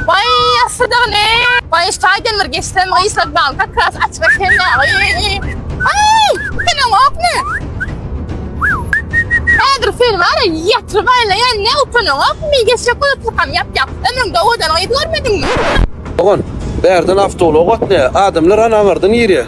Baý ýassydygyny, baý şaýdan bir geçsem gyýyslak bal kakras açyk ekeni. Aý, senem okmy? Häzir sen wara ýatyryp aýlaýan ne ukynyň okmy? Geçjek bolup kakam ýap ýap. Ömrüňde owadan gyz görmediňmi? Dogan, bärden awtoulak gatnaýar. Adamlar anaňardan girýär.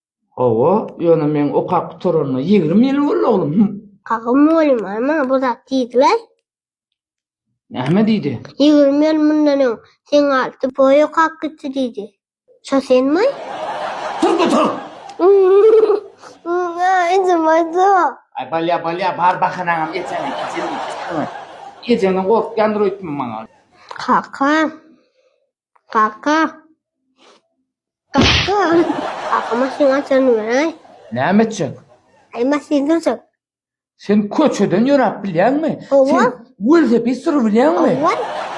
Hawa, ýöne meň okap gutaranyma ýigrimi ýyl boldy, oglum. Hum. Hawa, mugallym, ony maňa bu zat diýdiler. Näme diýdi? Ýigrimi ýyl mundan öň seň alty poýy okap gitdi diýdi. Şo senmi? Turdy, tur! Muňa ejem aýtsa. Aý, bolýar, bolýar, bar bahanaňam ejeňe, ejeňe. Ejeňden gorkýandyr öýtme maňa. Kaka. Kaka. Kaka. Kaka maşyn açan beray. Näme etjek? Ay maşyn durjak. Sen köçeden yöräp bilýäňmi? Sen welosiped sürüp bilýäňmi?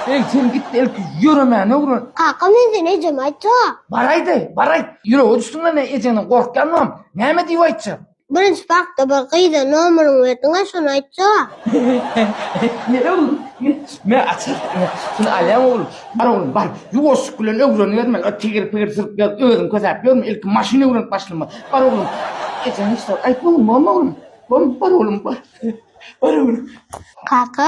Eý, sen git ilki ýöremäni öwren. Kaka men seni ejeme aýtjak. Baraýda, baraý. Ýüregi düşsün-le ne ejeňden gorkýanmam. Näme diýip aýtjak? Birinji parkda bir gyza nomeriňi berdiň a şony aýtjaga. Nere oglum? Men açar. Şuny alýaň oglum. Bar oglum bar. Ýuwaşlyk bilen öwreniberme. Öt tigir pigir sürüp gelip özüň kösäp ýörme. Ilki maşyn öwrenip başlama. Bar oglum. Ejeň hiç zat aýtma oglum. Bom oglum. Bom bar oglum bar. Bar oglum. Kaka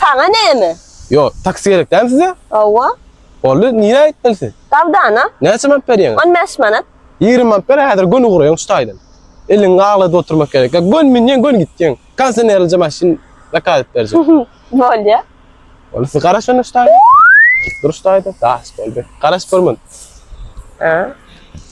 Saňa näme? Ýo, taksi gerek dämi size? Hawa. Boldy, nirä gitmeli siz? Dawdana. Näçe manat berýäňiz? On bäş manat. Ýigrimi manat ber, häzir göni guraýyň şu taýdan. Eliňi gagladyp oturmak gerek. Ýa göni münýäň, göni gitýäň. Konsenerlije maşyn zakaz edip berjek. Bolýa. Boldy, siz garaş onda şu taýdan. Dur şu taýdan. Bas, boldy. Garaşyp görmän. Hä?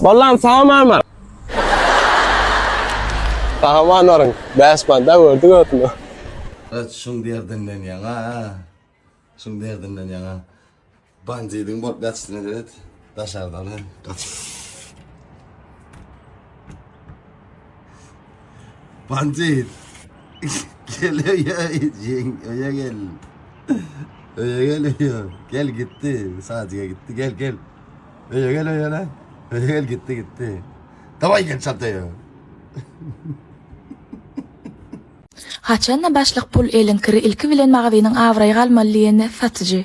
Bollam salam mama. Sahaman orun. Bäş banda gördük ötünü. Öt şun derdinden yana. Şun derdinden yana. Bandidin bolup yatsın evet. Daşardan. Kaç. Panjir. gel öýe jeň öýe gel. Öýe gel öýe. Gel gitdi. Sadyga gitdi. Gel gel. Öýe gel öýe lan. Öýe gel gitdi gitdi. Daway gel çataya. Haçanda başlyk pul eliň kiri ilki bilen magazynyň abraýy galmaly diýeni satyjy.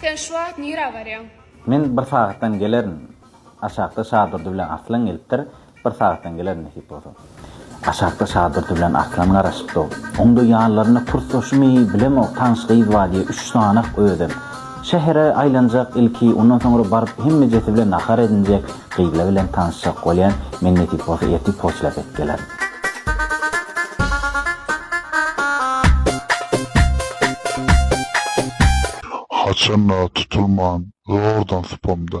Sen şu wagt nirä barýaň? Men bir sagatdan gelerin. Aşakda Şadurdy bilen Arslan gelipdir. Bir sagatdan gelerin nesip bolsa. Aşakda Şadurdy bilen Arslan garaşypdyr. Oňda ýanlarynda pursaşymy bilemok, tanyş gyz bar diýýär, üç sany-ak özem. Şähere aýlanjak ilki, ondan soňra baryp hemmejesi bilen nahar edinjek, gyzlar bilen tanyşjak bolýan, men nesip bolsa ertir poçtalaryp edip gelerin. Haçanda tutulman zordan sypamda.